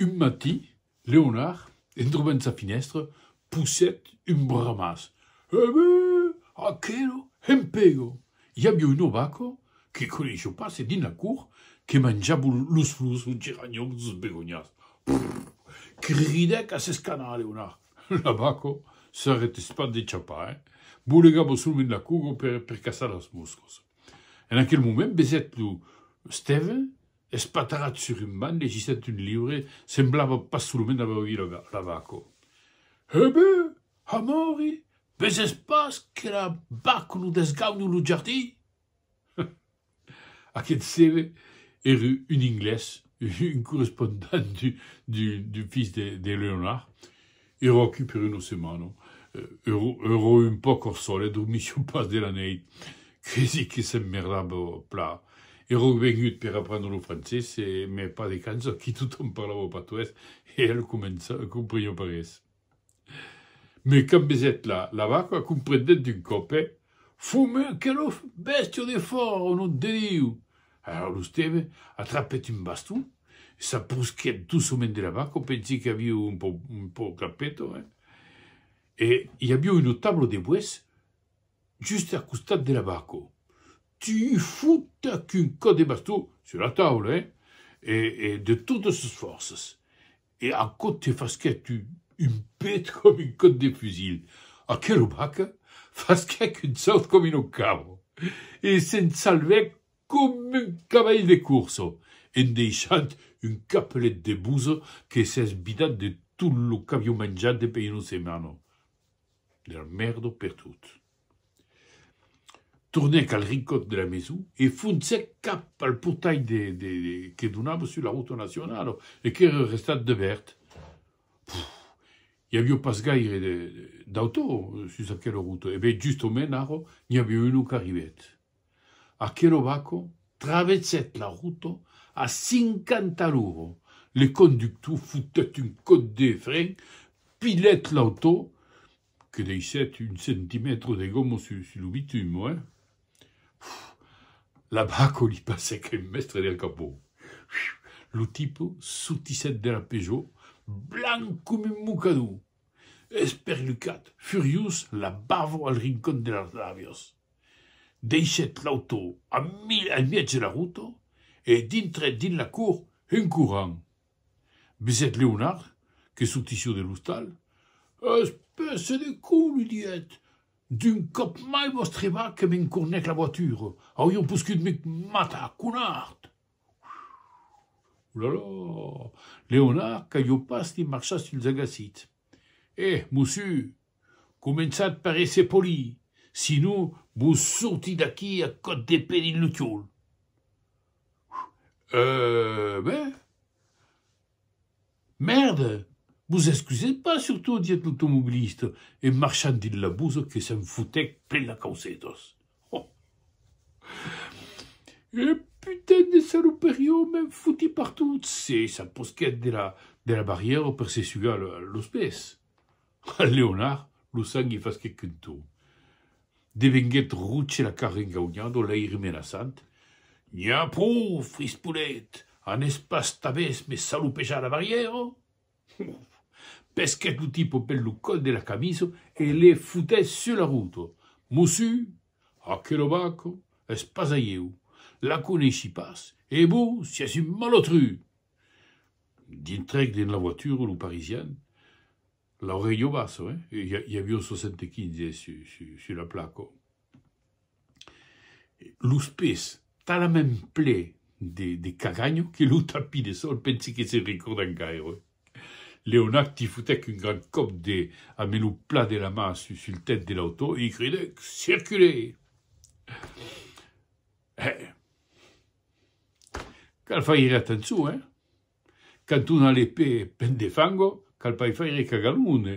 Un matí, Leonard, en trobant sa finèstra, pousèt un bramàs, Ève! Aquelo hempego! I aviá un ovaco, que coneishió pas e dins la cour, que manjava los flors, los geranhons, los begonhas. Prrr! cridèc a s'escanar Leonard. L'ovaco s'arretèt pas de chapar, eh? bolegava solament la cour per caçar las moscas. En aquel moment, besèt lo Stève, Espatarat sur un banc, legissent un liure, semblava pas solament aver oït la Baco. Hè be! ha Mori, veses pas que la Baco non desgaunu lo jardin? Hum! Aqueth seve ère un Inglés, un correspondent du fils de Leonard, Ero aquí per una setmana, ero un pauc au solet, dormissiu pas de la neit, quasi que s'emmerdava pla. Ero vengut per aprendre lo francés, e me pas de cançò, aquí tothom parlava patuès e el compreniá pas res. Me cambesèt la vaca, comprendèt d'un còp, eh! Fume que lo bèstia de fòra, au nom de Diu! Ara lo Steve atrapèt un baston e s'aprusquèt doçament de la vaca, pensi que aviu un pò un pò capèto, eh? E i aviu un otablo de boès just a costat de la vaca. Tu fotac un còp de baston, sur la taula, eh? E e de totas sos fòrças. E aquò te fasquèt un pet com un còp de fusil. Aquela vaca fasquèc un saut com una cabra e se'n salvèc com un cavalh de corsa, en deishant un capelet de bosa que s'es vidat de tot lo qu'avió manjat de per una setmana. De la mèrda pertot. Tornèc al rincòt de la maison e foncèc cap al portalh que donava sus la rota nacionala e qu'èra restat debèrt. I aviá pas gaire d'autò sus aquela rota. E ben, justament ara, n'i aviá un qu'arribèt. Aquela vaca traversèt la rota a cinquanta a l'ora. Le conductor fotèt un còp de fren, pilhèt l'autò Que deishèt un centimètre de gomo sus lo bitum, oi? L'abaco li passèc en mèstre del capó. Lo tipo sortissèt de la Peugeot blanc coma un mocador, esperlucat, furiós, la bava al rincon de las làbias. Deishèt l'auto a mièg de la rota e dintrèt dins la cort en corrent. Besèt Leonard, que sortissió de l'ostal. Espèce de con! lui didèt. D'un còp mai vos trevà que m'encornèc la voiture, aurion poscut me matar, conard! Olalà! Leonard, qu'avió pas de marchar suls agassits. Eh, mossu! Començatz per èsser poli, sinon vos sorti d'aquí a còp de pe dins lo còl. Euh, ben? Mèrda! Vos excusètz pas, surtot, diguèt l'automobilista, en marchant dins la bossa que se'n fotèc plen las causetas. Oh! Un putain de saloperion m'en foti partout! e s'aposquèt de la barrièra per se sugar los pès. Leonard, lo sang i fasquèc un ton. Devenguèt roche la cara engaunhado, l'aire menaçant. N'iá pro, frispolet! Anés pas tabés me salopejar la barrièra? Pesquèt lo tipo pel lo còl de la camisa e le fotèt sus la rota. Mossu, aquela vaca es pas a ieu. La coneissi pas e vos siás un malotru! Dintrèc dins la voitura, lo Parisien, l'auréi au basso, eh? I aviá un 75 sus la placa. Los pés talament ple de caganha que lo tapís de sòl pensi que se recordèc gaire. Leonard li fotèc un grand còp de ambe lo plat de la man sul tèt de l'autò e i cridèc, Circulez! Eh! Cal faire atençon, eh! Quand on a le pè plen de fango, cal pas faire cagalone!